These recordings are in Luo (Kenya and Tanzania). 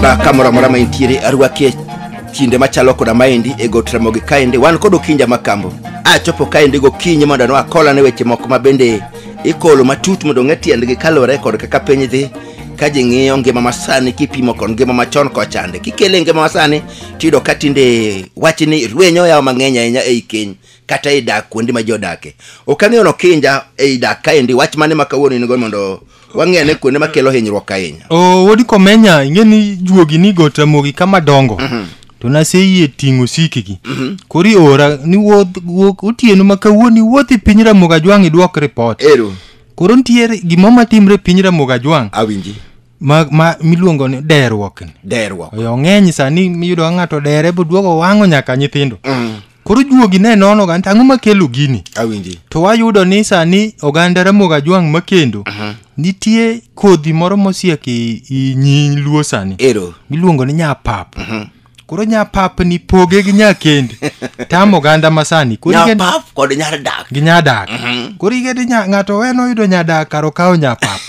na kamoro amora ma intiere arwaki e kinde machalo koda maendi e got ramogi kaendi wan kod okinja makambo achopo kaendi gokinyi mondo no akolane weche moko ma bende ikolo matut mondo ong'e tiendgi kaluwore kod kaka piny dhi ka ji ng'iyo ngima masani kipimo kod ngima machon kochande kikele ngima masani tiyudo ka tinde wachni rwenyo yawo mang'eny ahinya ei keny kata ei dak kuonde ma ji odake ok ang'eyo nokinja ei dak kaendi wach mane ma kawuono in go mondo wang'e ane kuonde makelo hinyruok ahinya o wodi komenya ing'e ni juogi ni go tamogi kama dongo to naseyie ting'o sikigi koro iora ni wuoth wuok otieno ma kawuono iwuoth i piny ramogi ajwang' idwok ripot ero koro nitiere gimoro matimre e piny ramogi ajwang' awinji ma, ma miluongo ni deruok ni deruok oyo ng'eny sani miyudo ka ng'ato dere boduogo wang'o nyaka nyithindo koro juogi ne nono ga ang'o makelo gini awinji to wayudo ni sani oganda ramogi ajwang' makendo nitie kodhi moro mosiek i, i nyi luo sani ero miluongo ni nyapap koro nyapap ni poge gi nyakende tam oganda masani koro igeno- nyapap kod nyar dak gi nyadak koro igede nya- ng'ato weno yudo nyadak kar okawo nyapap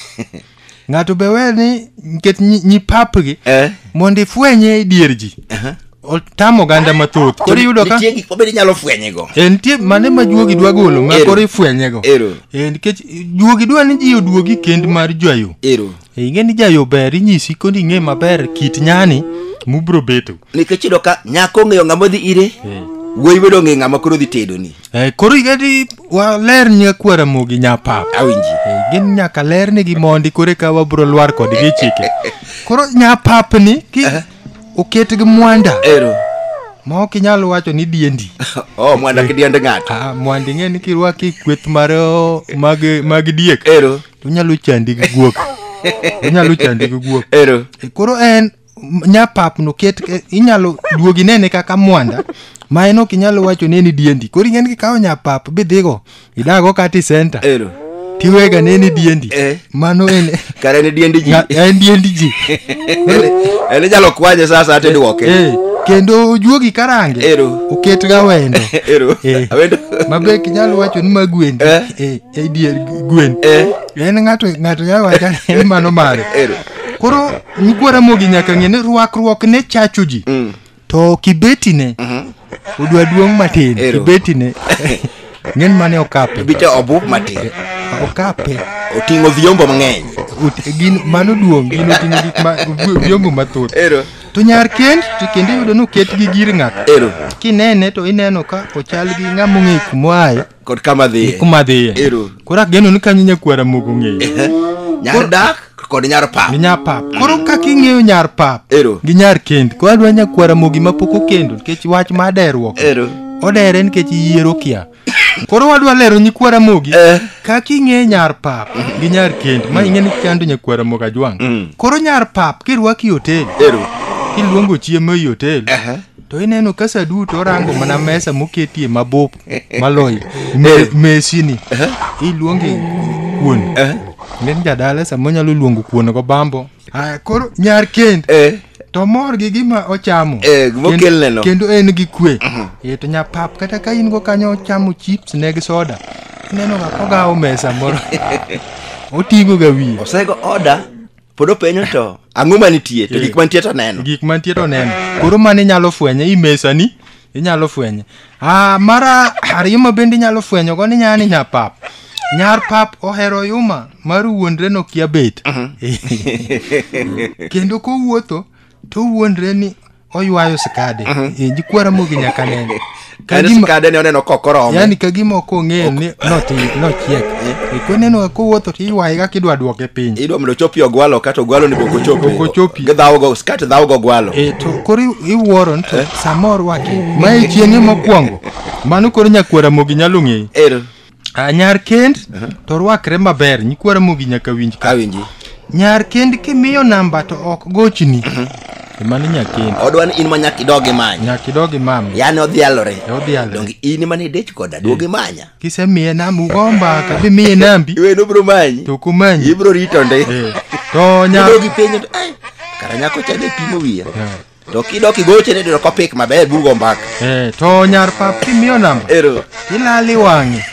ng'ato be wer ni nikech nyi, nyi papgi Eh. mondo ifwenye e dier ji otamo oganda mathoth koro iyudo ka nitie gik mabende inyalo fwenyego Eh, nitie mane ma juogi dwa golo ma Ero. koro ifwenyego Ero. Eh, nikech juogi dwa ni ji oduogi kend mar jwayo ero Eh, ing'e ni jayo ber inyisi koni ing'e maber kit nyani mubro beto nikech iyudo ka nyako ong'eyo ng'ama odhi ire wuoyi bedo ong'eyo ng'ama koro dhi tedoni Eh, koro igadi waler nyakwar Ramogi nyapap awinji Eh, gin nyaka ler ni gi mondi koro eka wabro lwar kodgi e chike koro nyapap ni ki oket gi mwanda ero ma ok inyal wacho ni diendi oh mwanda kidiend ng'ato Ah, mwandi ng'e ni kirwaki kweth mar oh, mag mag diek ero to onyalo chandi gi guok onyalo chandi gi guok ero Eh, koro en nyapap no ket eh, inyalo duogi nene kaka mwanda ma en ok inyalo wacho neni diendi koro ing'eni kikawo nyapap bidhigo idago kati senta Ero. tiwega neni diendi Eh. mano en Kare ne diendi ji. nga- en diendi ji En inyalo kwanye sasa ate duoke. Eh, kendo ojuogi karange Ero. oketga wendo Ero. Eh. Awendo. mabe kinyalo wacho ni magwendi Eh. eh, eh, dier gwen Eh. en ng'ato ng'ato nyalo wacho ni mano mare Ero. koro Nyikwa Ramogi nyaka ng'e ni rwakruok ne chacho ji. Mm. To kibeti ne, odwa duong' matin. Ero. Kibeti ne, ng'en mane okape. Bicha obup matin. Okape. Oting'o vyombo mang'eny. Ot- Gin, mano duong', gin oting'o gik ma, vy- vyombo mathoth. Ero. To nyar kend, to kendo iyudo ni oket gi gir ng'ato. Ero. Kinene to ineno ka ochal gi ng'ama ong'eyo kumoaye. kod kama dhiye kuma dhiye Ero. koro ageno ni kanyo nyakwara mogo ng'eyo nyar dak kod nyar pap gi nyar pap koro kaka ing'eyo nyar pap Ero. gi nyar kend koro adwa nyakwara mogi ma pok okendo nikech wach ma aderuok Ero. odere nikech yiero kia koro wadwa lero nyikwara mogi Eh. kaka ing'eyo nyar pap gi nyar kend ma ing'e ni chando nyakwara mogo ajwang' Mm. koro nyar pap kirwaki hotel ero kiluongo chiemo ei hotel Aha. to ineno ka sa duto orango mana mesa moketie mabup maloyo Me- mesini iluonge kuon nen jadala sama onyalo luongo kuon go bambo aya koro nyar kend to mor gi gima ochamo Eh, gima Kend- okelneno. kendo en gi kwe e to nyapap kata ka in go kanyo ochamo chips ne gi soda ineno ga kogawo mesa moro oting'o ga wiye osego oda pod openyo to ang'o manitie to gik manitie to neno gik mantie to neno koro mano inyalo fwenye i mesani inyalo fwenye ah, mara ariyo ma bende inyalo fwenyo go ni nyani nya pap nyar pap ohero yuma mar wuondre nokia bet kendo kowuotho to wuondre ni oywayo skade e, jikwara mogi nyaka nene Ka Kane gima- skade ne oneno kokoromo yani ka gima ok ong'eyo ni noti- nochiek E, koneno ka kowuotho to iywaye kaka idwa dwoke piny idwa mondo ochopi ogwalo kata ogwalo ni bok ochopi Bok ochopi. gidhawogo skat dhawogo ogwalo e to koro i- iwuoro ni to samoro waki ma e chieng'e mokwongo mano koro nyakwara mogi nyalo ng'eyo er Ah, nyar kend to rwakre maber nyikwa ramogi nyaka winj ka awinji nyar kend kimiyo namba to ok gochni emani nyakend odwa ni in ma nyaka idog imanya nyaka idog imam yani odhialore E odhialore. donge in mane idich koda duog imanya kisemiye namba ugo mbaka bimiye nambi iwe nobro manyi to kumanyi ibro rito ndi Eh, to nyar idogi penjo to, "Ai, kara nyako chande pimo wiya to kidok igoche ni to kopik maber bugo mbaka eh, to nyar pap kimiyo namba ero ilali wang'e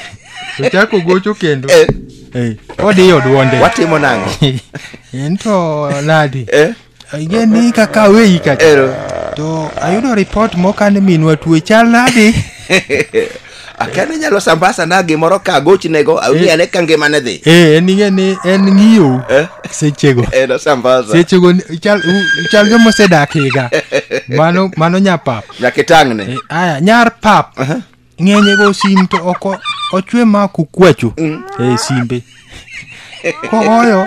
ochako gocho kendo eh. eh, odiyo duonde watimo nang'o en to nadi eh? ayie ni kaka weyi kacha to ayudo ripot mokane minwa tuwe chal nadi akia ni nyalo sambasa na gimoro ka agochnego awinjo ane ka ngimane dhi Eh, en ing'e ni en ng'iyo Eh? sechego en osambaza sechego ni- chal u- chal joma osedak higa mano mano nyapap nyaka itang'ne Eh, aya nyar pap ng'enyego sim to oko ochwe ma kukwacho e simbe kogoyo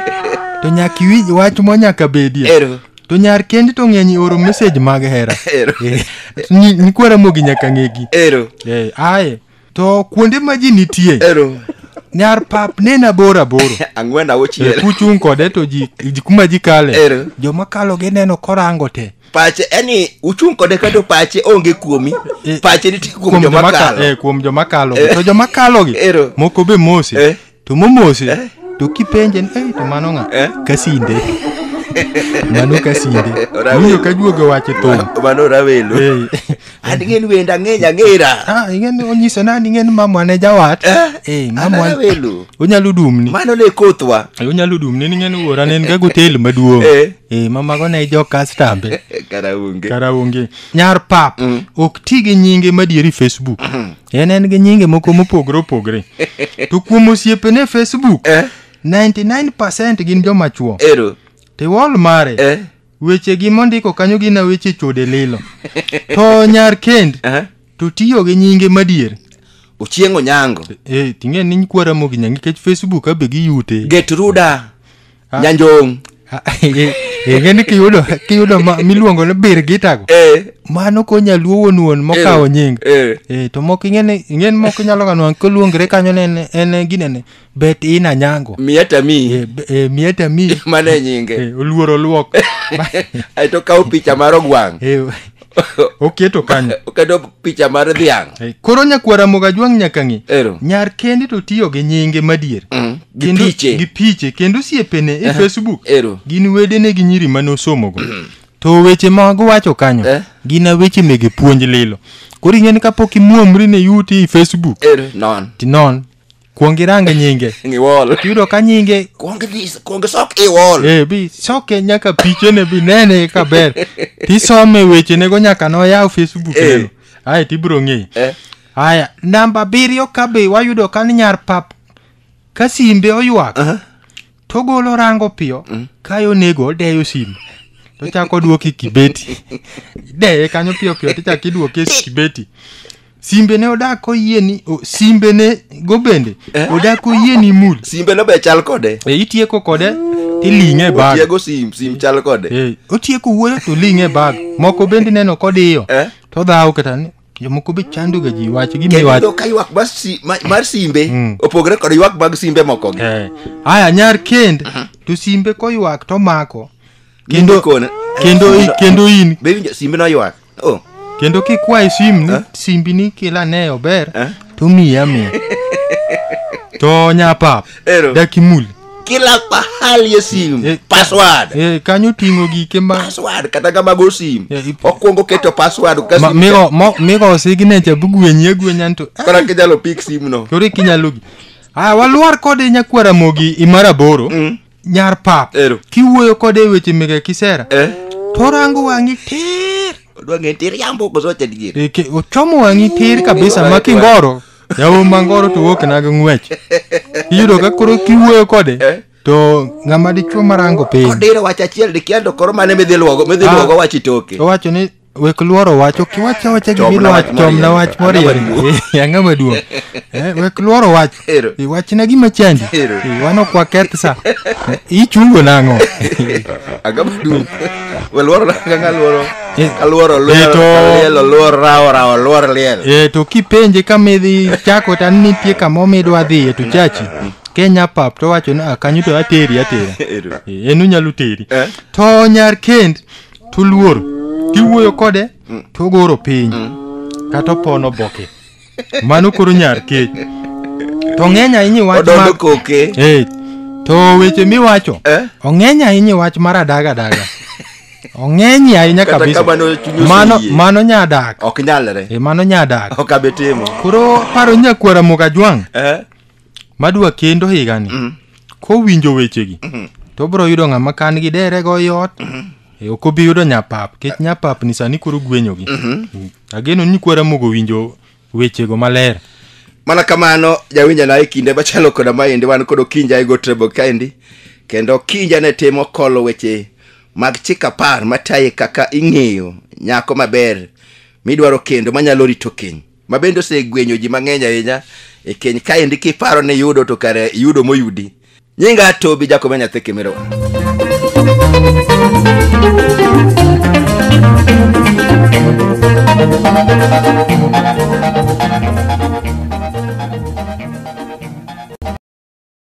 to nyaka iwinj wach mo nyaka bedie Ero. to nyar kendi to ng'eny oro message mag hera Ero. Eh, ni- nikwara mogi nyaka ng'egi Ero. Eh, aye to kuonde ma ji nitie Ero. nyar pap nena boro aboro Ang'wen auchiel. kuchung' kode to ji ji- kuma ji kale Ero. joma kalo gineno korango te pache yani uchung' kode kato pache onge kuomi Eh, pache nitie kuom kuom joma joma ka- kalo eh, kuom joma kalo Eh. to joma kalo gi Ero. moko be mosi Eh. to momosi Eh. to kipenje ni "Ei, to mano ng'a Eh. kasinde mano kasinde Ora winjo welo. ka juogo wache thum mano rawelo Eh, an ing'eni wenda ang'eya ang'era Ah, ing'eni onyiso nani ing'eni mamwa ne jawat Eh, Eh, an mamwa awelo onyalo dumni mano ne kothwa Eh, onyalo dumni ning'eni wuora ne en ga gotel maduong' Eh. Eh, mamago ne jo kastambe kara onge kara onge nyar pap ok ti gi nyinge madieri facebook en en gi nyinge moko mopogore opogore to kuom osiepene e facebook Eh. 99 gin joma chuo ero tiwol mare eh weche gi mondiko kanyo gin na weche chode lilo to nyar kend Aha. to tiyo gi nyinge madier ochieng onyango e ting'e ni nyikwara mogi nyange nikech facebook abe giyute get ruda nyanjong enge ni kiyudo kiyudo ma- miluongo ni bir gitago eh, mano konya luo wuon wuon mokawo nying eh. e to moko ing'e ni ing'e ni moko inyalo ga nwang' koluongre kanyo ne en- en ginene bet ina nyango miya tami Eh, be- eh, mieta mi mane nyinge Eh, oluor oluok ae to kawo picha mar ogwang' Eh, oketo kanyo oketo picha mar dhiang' Eh, koro nyakwar amoga jwang' nyaka ng'e ero nyar kende to tiyo gi nyinge madier Mm, gi Kendo- piche. gi piche kendo osiepene e facebook ero gin wedene gi nyiri mane osomogo to weche mag wacho kanyo Eh. gin a weche mege puonj lilo koro ing'eni kapok imuomri ne yuti e facebook ero non tinon kuong irang nyinge Ng'i wall. tiyudo ka nyinge Kuong idhi kuong isok i wall. eh, bi soke nyaka pichene bi nene kaka ber tisome wechenego nyaka noyaw facebook Eh. neno aye tibiro ng'eyi Eh. aya namba abiriyo ka be wayudo ka ni nyar pap ka simbe oywak togolo rango piyo mm. kayo nego odeyo simu tochako odwoki kibeti ideye kanyo piyo piyo tichako idwoke kibeti simbe ne odak oyie ni simbe ne go bende eh? odak oyie ni mul simbe no be chal kode e itieko kode tiling'e e bag otieko sim sim chal kode e otieko wuoyo to ling'e e bag moko bende neno kodiyo eh? todhawo kata ni jomoko be chandoga ji wach kendo gimiwach iyudo ka ywak mar si- ma- mar simbe Mm. opogore kod ywak mag simbe moko gi Eh, aya nyar kend to simbe koywak to mako Kendo- Nimbe kona. kendo i- kendo in be winjo simbe noywak oh kendo kikwaye sim ni simbi ni kila ne ober Eh? to miya miya to nyapap Ero. dakimul kila pahali e sim Eh, password Eh, kanyo oting'o gike ma password kata ngama go sim Yeah, ip- okwongo keto password ka ma- sim migo- mo- migo signature bugwenyi agwenya nto ah, kora kinyalo pick sim no koro ikinyalo gi aya walwar kode nyakwara mogi imara boro Mm. nyar pap Ero. kiwuoyo kode e weche mege kisera eh torango wang'i tir odwa ng'e tiriambo koso wacha dier E, ke- ochomo wang'i tir kabisa ma kingoro Yawo mangoro to wuok na gi ng'wech. Iyudo ka koro kiwuoyo kode to ng'ama dichuo marango piny. Kodiro wach achiel dikia to koro mane midhi luogo midhi Ah. luogo wach itoke. Owacho ni wek luoro wach ok iwach awacha Chomna gimidwa wach chomna moriere. wach Ang'ama moriere duong'. Eh, ang'ama duong' Eh, wek luoro wach Ero. Eh, wachna gima chandi Ero. Eh, wan ok waketh sa Eh, ichungo nang'o Agama du. Weluoro na kanga luoro. Eh, Kaluoro eh, luor, to- kalielo luor, rawo rawo luor liel. eh, to kipenje kama idhi chako to an nitie kama omidwa dhiye to chachi kenya pap to wacho ni "Ah, kanyo to ateri atera Ero. Eh, en unyalo teri Eh. to nyar kend to luor tiwuoyo kode to ogoro piny kata opono boke mano koro nyar kech to ng'eny ahinya iwach Odondo ma- koke. Eh, to weche miwacho Eh? ong'eny ahinya iwach mar adaga adaga ong'eny ahinya Kata kabisa kamano chunyi mano oseyie. mano nyadak Ok nyalre. Eh, mano nyadak Ok abe timo. koro paro nyakwara mokajwang' Eh? madwa kendo higani Mm. kowinjo wechegi Mhm. to obiro yudo ng'ama kan gi dere go yot e, ok obi yudo nyapap kech nyapap ni sani koro gwenyogi Mm. ageno ni kwara mogo winjo wechego maler mana kamano jawinja na e kinde machalo koda maendi wan kod okinja e gotrebo kaendi kendo okinja ne timo kolo weche mag chik apar mataye kaka ing'eyo nyako maber midwaro kendo manyalo rito keny ma bende osegwenyo ji mang'eny ahinya e keny kaendi kiparo ni yudo to kare yudo moyudi nyinga atobi jakome nyathi kimiro